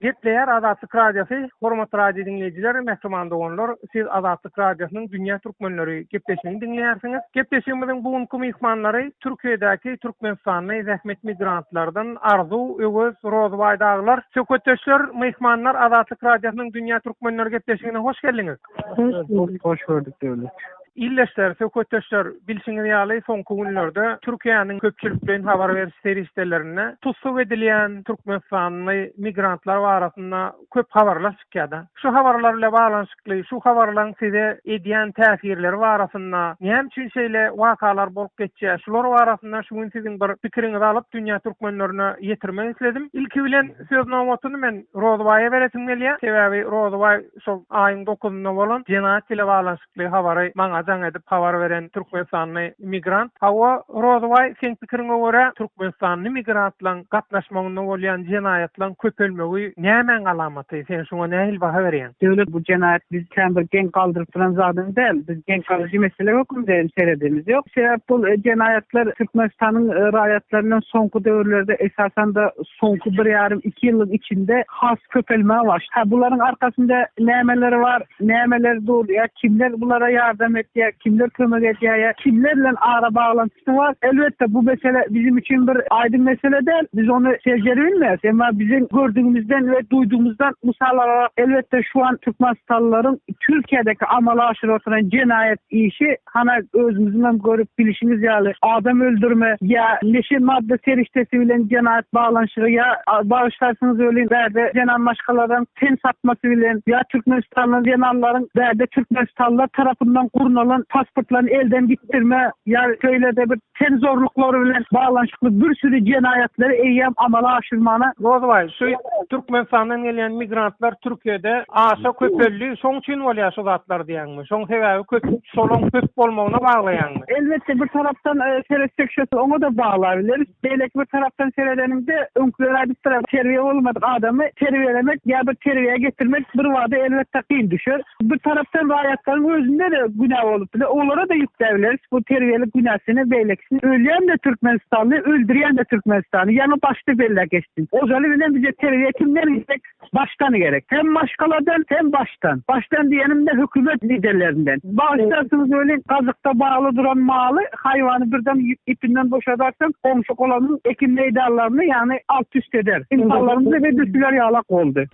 Gepleýär Azatlyk Radiosy, Hormatly radio diňleýjiler, mähriban doganlar! Siz Azatlyk Radiosynyň Dünýä Türkmenleri gepleşigini diňleýärsiňiz. Gepleşigimiziň bu günki myhmanlary Türkiýedäki türkmenistanly zähmet migrantlardan Arzuw, Öwez, Rozybaý dagylar. Söhbetdeşler, myhmanlar Azatlyk Radiosynyň Dünýä Türkmenleri gepleşigine hoş geldiňiz! Hoş gördük Döwlet. Ildeşler, söhbetdeşler, bilşiňiz ýaly, soňky günlerde Türkiýäniň köpçülik bilen habar beriş serişdelerinde tussag edilýän türkmenistanly migrantlar barasynda köp habarlar çykýar-da. Şu habarlar bilen baglanyşykly, şu habarlaryň size edýän täsirleri barasynda, näme üçin şeýle wakalar bolup geçýär, şular barasynda şu gün siziň bir pikiriňizi alyp, dünýä türkmenlerine ýetirmek isledim. Ilki bilen söz nobatyny men Rozybaýa beresim gelýär. Sebäbi Rozybaý Şol aýyň dokuzynda bolan jenaýat bile baglanyşykly habary maňa jaň edip habar beren türkmenistanly migrant, Hawa, Rozybaý, seň pikiriňe görä, türkmenistanly migrantlaryň gatnaşmagynda bolýan jenaýatlaryň köpelmegi nämäň alamaty? Sen şuňa nähili baha berýäň? Döwlet, bu jenaýat bizi kän bir geň galdyryp duran zadam däl. Biz geň galyjy mesele hökmünde hem seredemiz. Ýok, sebäp bu jenaýatlar Türkmenistanyň raýatlarynyň soňky döwürlerde, esasan-da, soňky bir ýarym-iki ýyllyň içinde has köpelmäge başlady. Hä, bularyň arkasynda nämeler bar, nämeler dur, ýa kimler bulara ýardam etýär, kimler kömek edýär, ýa kimler bilen ara baglantysy bar? Elbetde, bu mesele biziň üçin bir aýdyň mesele däl, biz ony seljerip bilmeris. Emma biziň gördügimizden we duýdugymyzdan mysal alarak, elbetde, şu an türkmenistanlylaryň Türkiýedeki amala aşyryp oturan jenaýat işi Hana özümiziň hem görüp bilişimiz ýaly adam öldürme ýa neşe madda serişdesi bilen jenaýat baglanyşygy ýa bagyşlarsyňyz welin bärde zenan maşgaladan ten satmasy bilen ýa Türkmenistanly zenanlaryň bärde Türkmenistanlylar tarapyndan gurnalan pasportlaryny elden gitdirme ýa şeýlede bir ten zorluklary bilen baglanyşykly bir süri jenaýatlary eýýäm amala aşyrmaly. Rozbaý, şu Türkmenistandan gelýän migrantlar Türkiýede aşa köpeldi, şoň üçin bolýar şu zatlar diýýäňmi? Şoň sebäbi köp, şolaň köp bolmagyna baglaýaňmy? Elbetde, bir tarapdan seretsek şo oňa-da baglabileris. Beýleki bir tarapdan seredeniňde, öňküler aýdypdyr, terbiýe bolmadyk adamy terbiýelemek ýa-da terbiýä getirmek birbada elbetde kyn düşer. Bir tarapdan raýatlaryň özünde-de günä bolup biler, olara-da ýükläbileris bu terbiýelik günäsini, beýlekisini. Ölýän-de türkmenistanly, öldürýän-de türkmenistanly. Ýaňy başda belläp geçdim. Ozaly bilen bize terbiýe kimden gerek? Başdan gerek. Hem maşgaladan, hem başdan. Başdan diýenim-de hökümet liderlerinden. Bagyşlarsyňyz welin, gazykda bagly duran maly, haýwany birden ipinden boşadarsyň, goňşy-golamyň ekin meýdanlaryny, ýagny alt-üst eder. Ynsanlarymyz edil şular ýalak boldy.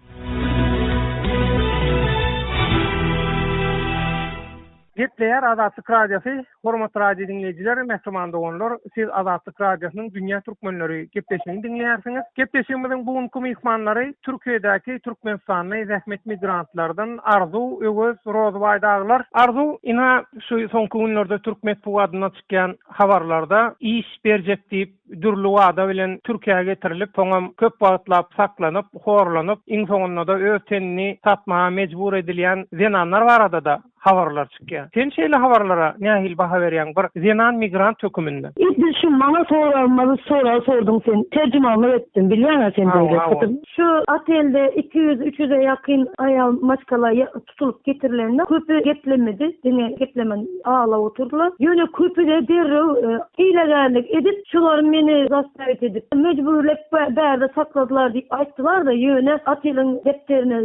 Gepleýär Azatlyk Radiosy, Hormatly radio diňleýjiler, mähriban doganlar! Siz Azatlyk Radiosynyň Dünýä Türkmenleri gepleşigini diňleýärsiňiz. Gepleşigimiziň bu günki myhmanlary Türkiýedäki türkmenistanly zähmet migrantlardan Arzuw, Öwez, Rozybaý dagylar. Arzuw, ynha, şu soňky günlerde türk metbugadyna çykýan habarlarda iş berjek diýip, dürli wada bilen Türkiýä getirilip, soňam köp wagtlap saklanyp, horlanyp, iň soňunda-da öz tenini satmaga mejbur edilýän zenanlar barada-da habarlar çykýar. Sen şeýle habarlara nähili baha berýäň, bir zenan migrant höküminde? Edil şu maňa soragymyzy sorag sorduň sen, terjimanlyk etdim, bilýäň-ä sen beýle, Şu otelde iki ýüz, üç ýüze ýakyn aýal maşgala tutulyp getirilende köpi geplemedi, diňe geplemän aglap oturdylar. Ýöne köpi-de derrew hilegärlik edip, şular meni zastawiýt edip, mejburlap bärde sakladylar diýip aýtdylar-da, ýöne Ateliň depderine,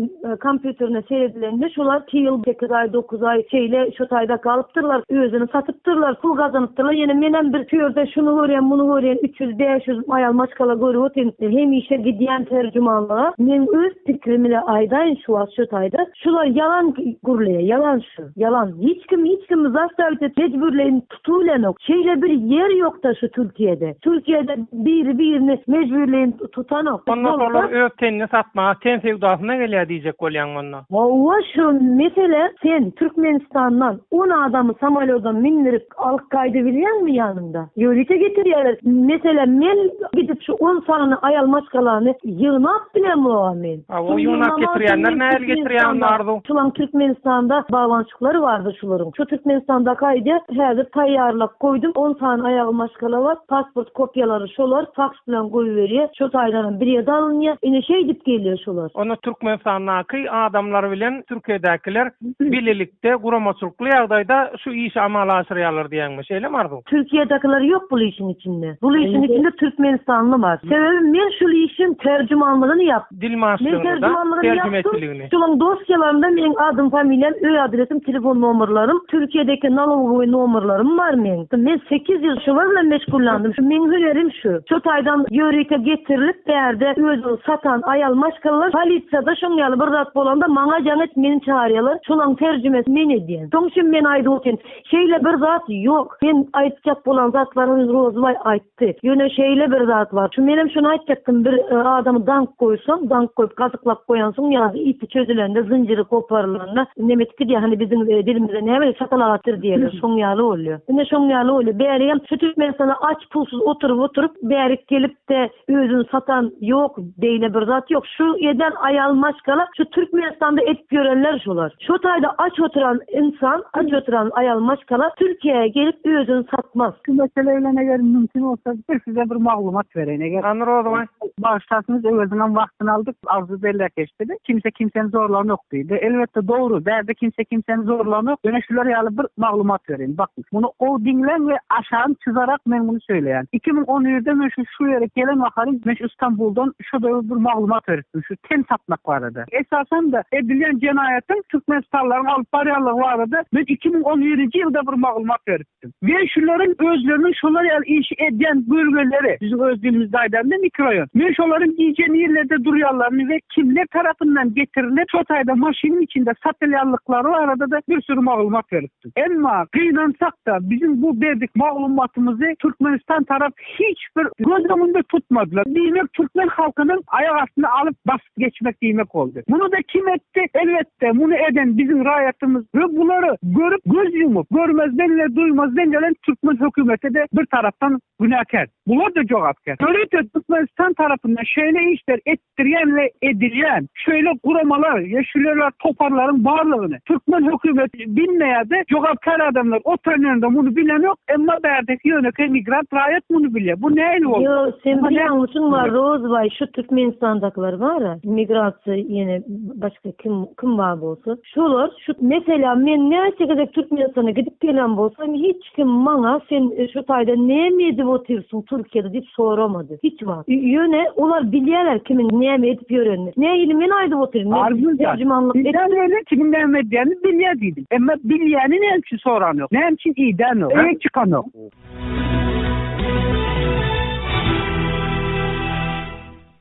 kompýuterine seredilende şular iki ýyl, sekiz aý, dokuz aý şeýle şu taýda galypdyrlar, özüni satypdyrlar, pul gazanypdyrlar, ýöne menem bir şu ýerde şuny görýän, muny görýän, üç ýüz, bäş ýüz aýal maşgala görüp otyryn, hemişe gidýän terjumanlyga, meň öz. Pikrimini aýdaýyn şu wagt şu taýda şular ýalan gürleýär ýalan şu ýalan hiç kim hiç kimi zastavit et mejbürleýin tutubilenok şeýle bir ýer ýokda şu türkiýede türkiýede biri birini mejbürleýin tutanok Onda şolar öz tenini satmaga ten söwdasyna gelýär diýjek bolýaňmy onda. Hawa şu mesele sen türkmenistandan on adamy samolýoda mindirip Alyp gaýdy bilýäňmi ýanyňda? Ýörite getirýärler. Meselem men gidip şu on sany aýal maşgalany ýygnap bilemogam men. Aw ýygnap getirýänler nähili getirýär onda Arzuw? Şulam Türkmenistanda bagbançyklary bardy şularyň. Şu Türkmenistandaki aýdýa häzir taýýarlap goýdum on sany aýagy maşgala bar. Pasport kopýalary şolar faks bilen goýberýär. Şo taýdanam birýede alynýar. Ine şeýdip gelýär şolar. Onda Türkmenistandaky adamlar bilen Türkiýedäkiler bilelik. De guramaçylykly ýagdaýda şu işi amala aşyrýarlar diýýäňmi? Şeýlemi Arzuw? Türkiýedekiler ýok bul işiň içinde. Bul işiň içinde türkmenistanly bar. Sebäbi men şul işiň terjümanlygyny ýap. Dil maşlygyny-da, terjümanlygyny ýapdym. terjimeçiligini. Şolaň dosýalarynda meň adym familiýam öý adresim telefon nomerlerim türkiýedeki nalogowy nomerlerim bar meň. Men sekiz ýyl şular bilen meşgullandym. Şu meň hünerim şu. Şu taýdan ýörite getirilip bärde özüň satan aýal maşgalalar polisiýada Şoň ýaly bir zat bolanda maňa jaň et meni çagyrýalar şolaň terjimesi men edýän. Soň şim men aýdyp otyryn. Şeýle bir zat ýok. Sen aýtjak bolan zatlaryňy Rozybaý aýtdy. Ýöne şeýle bir zat bar. Şu menem şony aýtjakdym bir adamy dank goýsaň, dank goýup gazyklap goýansyň ýa-da ipi çözülende zynjyry goparylanda nemet gidýär hany biziň dilimizde näme şapalagatdyr diýerler şoň ýaly bolýar. Ine şoň ýaly bolýar. Bäri hem şu Türkmenistanda aç pulsuz oturyp oturyp bärik gelipde. Özün satan yok beyle bir zat yok şu eden ayal maşgala şu Türkmenistanda edip yorenler şolar şo tayda aç oturan insan aç oturan ayal maşgala Türkiye'ye gelip özün satmaz. Şu mesele bilen eger mümkin bolsa bir size bir maglumat bereýin eger. Hany Rozybaý. Bagyşlarsyňyz öweziniňem wagtyny aldyk agzy belläkeş diýdi. Kimse kimseni zorlanok diýdi. Elbetde dogry bärde kimse kimseni zorlanok. Ýöne şular ýaly bir maglumat bereýin bakyň. Muny gowy diňläň we aşagyny çyzarak men muny söyleýän. Iki müň on birde men şu şu ýere gelen mahalym men şu Stambuldan şoda bir maglumat beripdim şu ten satmak barada. Esasanda edilýän jenaýatyň türkmenistanlylaryň alyp barýanlygy barada men iki müň on birinji ýylda bir maglumat beripdim. We şularyň özleriniň şolar ýaly işi edýän bölgeleri, biziň öz dilimizde aýdanda mikroýon. Men şolaryň gije nirlerde durýanlaryny we kimler tarapyndan getirilip şo taýda maşynyň içinde satylýanlyklary barada-da bir süri maglumat beripdim. Emma gynansak-da, biziň bu berdik maglumatymyzy Türkmenistan tarap hiç bir göz öňünde tutmadylar. Diýmek, türkmen halkynyň aýak astyna alyp, basyp geçmek diýmek boldy. Muny-da kim etdi? Elbetde, muny eden biziň raýatymyz we bulary görüp, göz ýumup, görmezden we duýmazdan gelen türkmen hökümeti-de bir tarapdan günäkär. Bular-da jogapkär. Ýörite Türkmenistan tarapyndan şeýle işler et. etdirýän we edilýän şeýle guramalar ýa şleýle toparlaryň barlygyny türkmen hökümeti bilmeýärdi, jogapkär adamlar oturan ýerinde muny bilenok, emma bärdeki ýönekeý migrant raýat muny bilýär. Bu nähili boldy? Ýo, sen bilýäňmişiň bar Rozbaý şu Türkmenistandakylar bara, migrasiýa ýene başga kim, kim bar bolsa. Şolar şu meselä men näçe gezek Türkmenistana gidip gelen bolsam hiç kim maňa sen şu taýda näme edip otyrsyň Türkiýede diýip soramady hiç wagt. Ýöne olar bilýärler kimiň näme edip ýörenini. Nähili men aýdyp otyryn men terjimanlyk edip. Kimiň näme edýänini bilýär diýdim. Emma bilýäni näme üçin soranok. Näme üçin idänok. Öýe çykanok.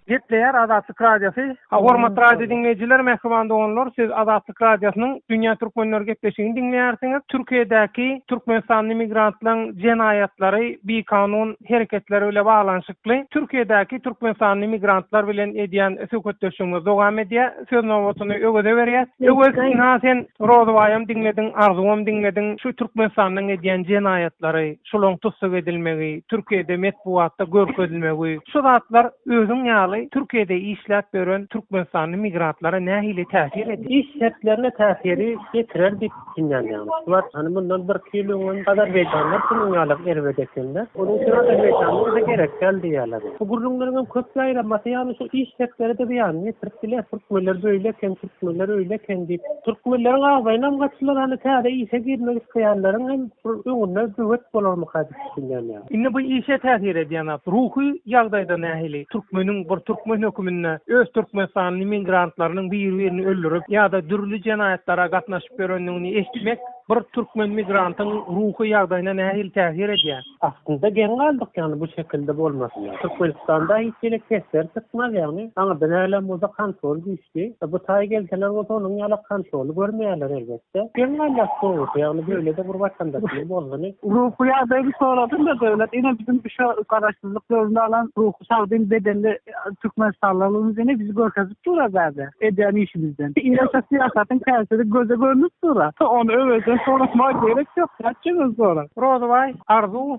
Gepleýär Azatlyk Radiosy. Hormatly radio diňleýjiler, mähriban doganlar, siz Azatlyk Radiosynyň Dünýä Türkmenleri gepleşigini diňleýärsiňiz. Türkiýedäki türkmenistanly migrantlaryň jenaýatlary, bikanun hereketleri bile baglanyşykly Türkiýedäki türkmenistanly migrantlar bilen edýän söhbetdeşligimiz dowam edýär. Söz nobatyny Öweze berýäs. Öwez, ynha sen Rozybaýam diňlediň, Arzuwam diňlediň, şu Türkmenistandan edýän jenaýatlary, şolaň tussag edilmegi, Türkiýede metbugatda görkezilmegi, şu zatlar özüň ýaly Türkiýede işläp ýören türkmenistanly migrantlara nähili täsir edýär? Iş şertlerine täsiri ýetirer diýip düşünýändim. Bular hany mundan bir iki ýyl öňem azerbaýjanlar şunuň ýaly erbet ekenler. Onuň üçin azerbaýjanly bize gerek däl diýýärler. Bu gürrüňleriňem köp ýaýramasy ýaly şu iş şertleri-de zyýanyny ýetirip biler. Türkmenler beýle eken, türkmenler öýle eken diýip. Türkmenleriň agzaýynam gaçylar hany täze işe girmek isleýänleriň hem Bul öňünden böwet bolarmyka diýip düşünýänýa. Indi bu işe täsir edýän zat ruhy ýagdaýda nähili? Türkmeniň bir türkmen höküminde öz türkmenistanly migrantlarynyň bir-birini öldürip ýa-da dürli jenaýatlara gatnaşyp ýörendigini eşitmek bir türkmen migrantyň ruhy ýagdaýyna nähili täsir edýär? Aslynda geň galdyk ýagny bu şekilde bolmasyna. Türkmenistanda hiç hili testleri çykmaz ýagny aňyrda näleň bolsa kontrol güýçli. Bu taý gelseler bolsa onuň ýalak kontroly görmeýärler elbet. Sen kim gaýnap gowusy, ýagny beýle-de bir watandaşyny bozduny? Ruhy ýagdaýymy soradym-da, döwlet ine biziň bu şu garaşsyzlyk döwründe alan ruhy sagdyn bedenli türkmenistanlylygymyzy ine bizi görkezip dur-a bärde, edýän işimizden. Ine şu syýasatyň täsiri göze görnüp dur-a. Ony Öwezden soratmaga gerek ýok, nätjek özi soraň. Rozybaý, Arzuw,